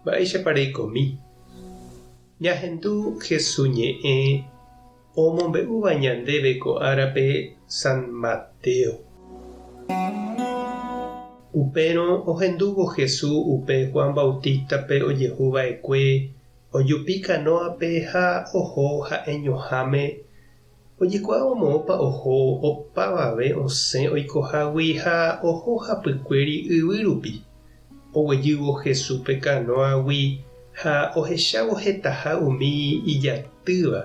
Mba'éichapa reikomi ñahendu Jesús ñe'ẽ omombe'úva ñandéve ko árape San Mateo? Upérõ ohendúvo Jesús upe Juan Bautístape ojehu va'ekue ojupi kanóape ha oho ha'eñoháme Ojekuaávo moõpa oho opavave osẽ oikohágui ha oho hapykuéri yvy rupi. Oguejývo Jesúspe kanóagui ha ohechávo hetaha umi ijatýva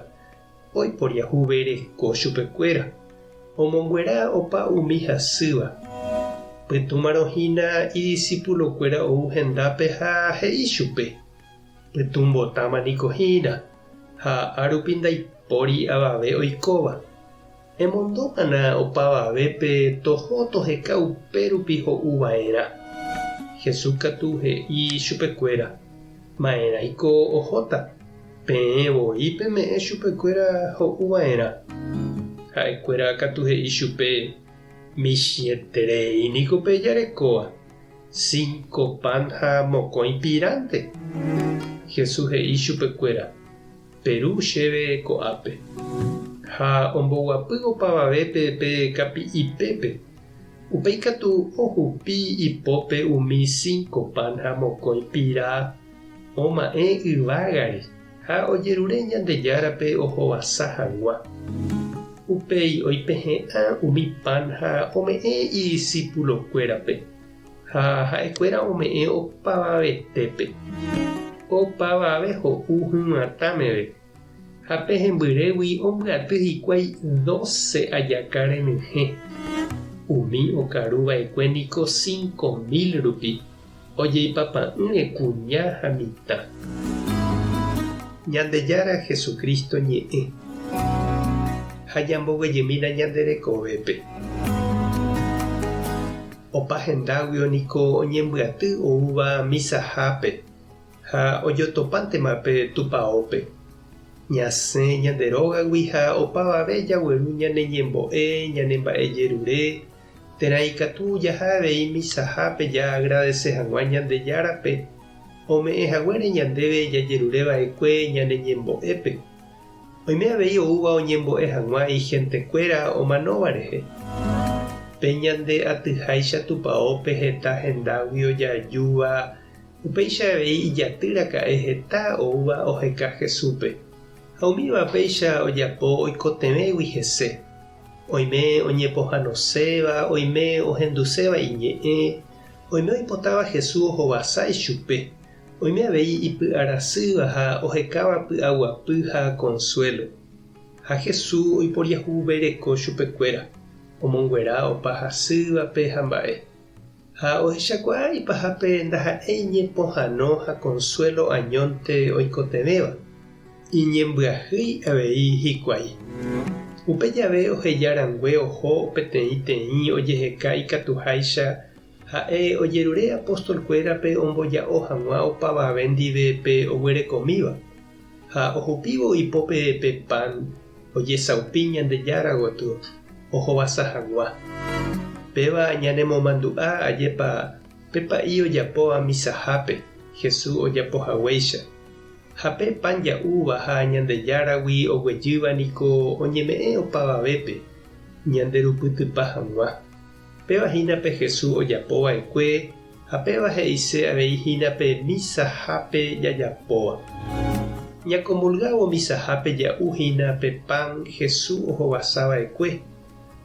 oiporiahuvereko chupekuéra, omonguera opa umi hasýva. Pytũmarõ hína idisipulokuéra ou hendápe ha he'i chupe. Pytũmbotáma niko hína, ha árupi ndaipóri avave oikóva. Emondo g̃uarã opavavépe toho toheka upérupi ho'u va'erã. Jesús katu he'i chupekuéra, Ma'erãiko ohóta, peẽ voi peme'ẽ chupekuéra ho'u va'erã. Ha'ekuéra katu he'i chupe, Michĩeterei niko pejarekóva. Cinco pan ha mokõi pirãnte. Jesús he'i chupekuéra, Peru chéve ko'ápe. Ha omboguapy opavavépe pe kapi'ipépe. Upéi katu ohupi ipópe umi cinco pan ha mokõi pira oma'ẽ yvágare. Ha ojerure Ñandejárape ohovasa hag̃ua. Upéi oipehe'ã umi pan ha ome'ẽ idisipulokuérape, ha ha'ekuéra ome'ẽ opavavetépe. Ko pavave ho'u hyvatã meve, ha pe hembyrégui ombyaty hikuái doce ajaka renyhẽ. Umi okaruva'ekue niko cinco mil rupi. Ojeipapa'ỹre kuña ha mitã. Ñandejára Jesucristo ñe'ẽ. Ha ñamboguejemína ñande rekovépe. Opa hendáguio niko oñembyaty oúva misahápe ha ojotopántema pe tupaópe. Ñasẽ ñande rógagui ha opavave jagueru ñane ñembo'e, ñane mba'e jerure Térã ikatu jaha avei misahápe jaagradese hag̃ua Ñandejárape ome'ẽ haguére ñandéve jajerure va'ekue ñane ñembo'épe. Oime avei oúva oñembo'e hag̃ua ihentekuéra omanóva rehe. Pe ñande atyháicha tupaópe heta hendágui ojaajúva, upéicha avei ijaty raka'e heta oúva oheka Jesúspe. Ha umíva péicha ojapo oikotevẽgui hese, Oime oñepohanoséva, oime ohenduséva iñe'ẽ, oime oipotáva Jesús ohovasa ichupe, oime avei ipy'arasýva ha ohekáva py'aguapy ha konsuélo. Ha Jesús oiporiahuvereko chupekuéra, omonguera opa hasývape ha mba'e. Ha ohechakuaa ipahápe ndaha'éi iñepohano ha konsuélo añónte oikotevẽva, iñembyahýi avei hikuái. Upe jave oheja rangue oho peteĩ teĩ ojeheka ikatuháicha ha'e ojerure apóstolkuérape omboja'o hag̃ua opavave ndive pe oguerekomíva, ha ohupívo ipópe pe pan ojesaupi Ñandejára gotyo ohovasa hagua. Péva ñanemomandu'a ajépa pe pa'i ojapóva misahápe Jesús ojapo haguéicha. Ha pe pan ja'úva ha Ñandejáragui oguejýva niko oñeme'ẽ opavavépe ñanderupytypa hag̃ua. Péva hína pe Jesús ojapova'ekue Ha péva he'ise avei hína pe misahápe jajapóva. Ñakomulgávo misahápe ja'u hína pe pan Jesús ohovasa va'ekue,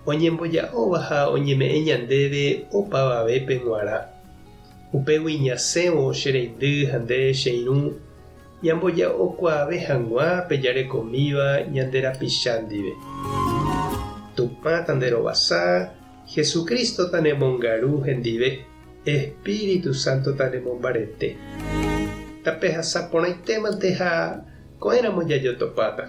oñemboja'óva ha oñeme'ẽ ñandéve opavavépe g̃uarã. Upégui ñasẽvo che reindy ha nde che irũ, ñamboja'okuaave hag̃ua pe jarekomíva ñande rapicha ndive. Tupã tanderovasa Jesucristo tanemongaru hendive, Espíritu Santo tanemombarete. Tapehasa porãitémante ha ko'ẽramo jajotopáta.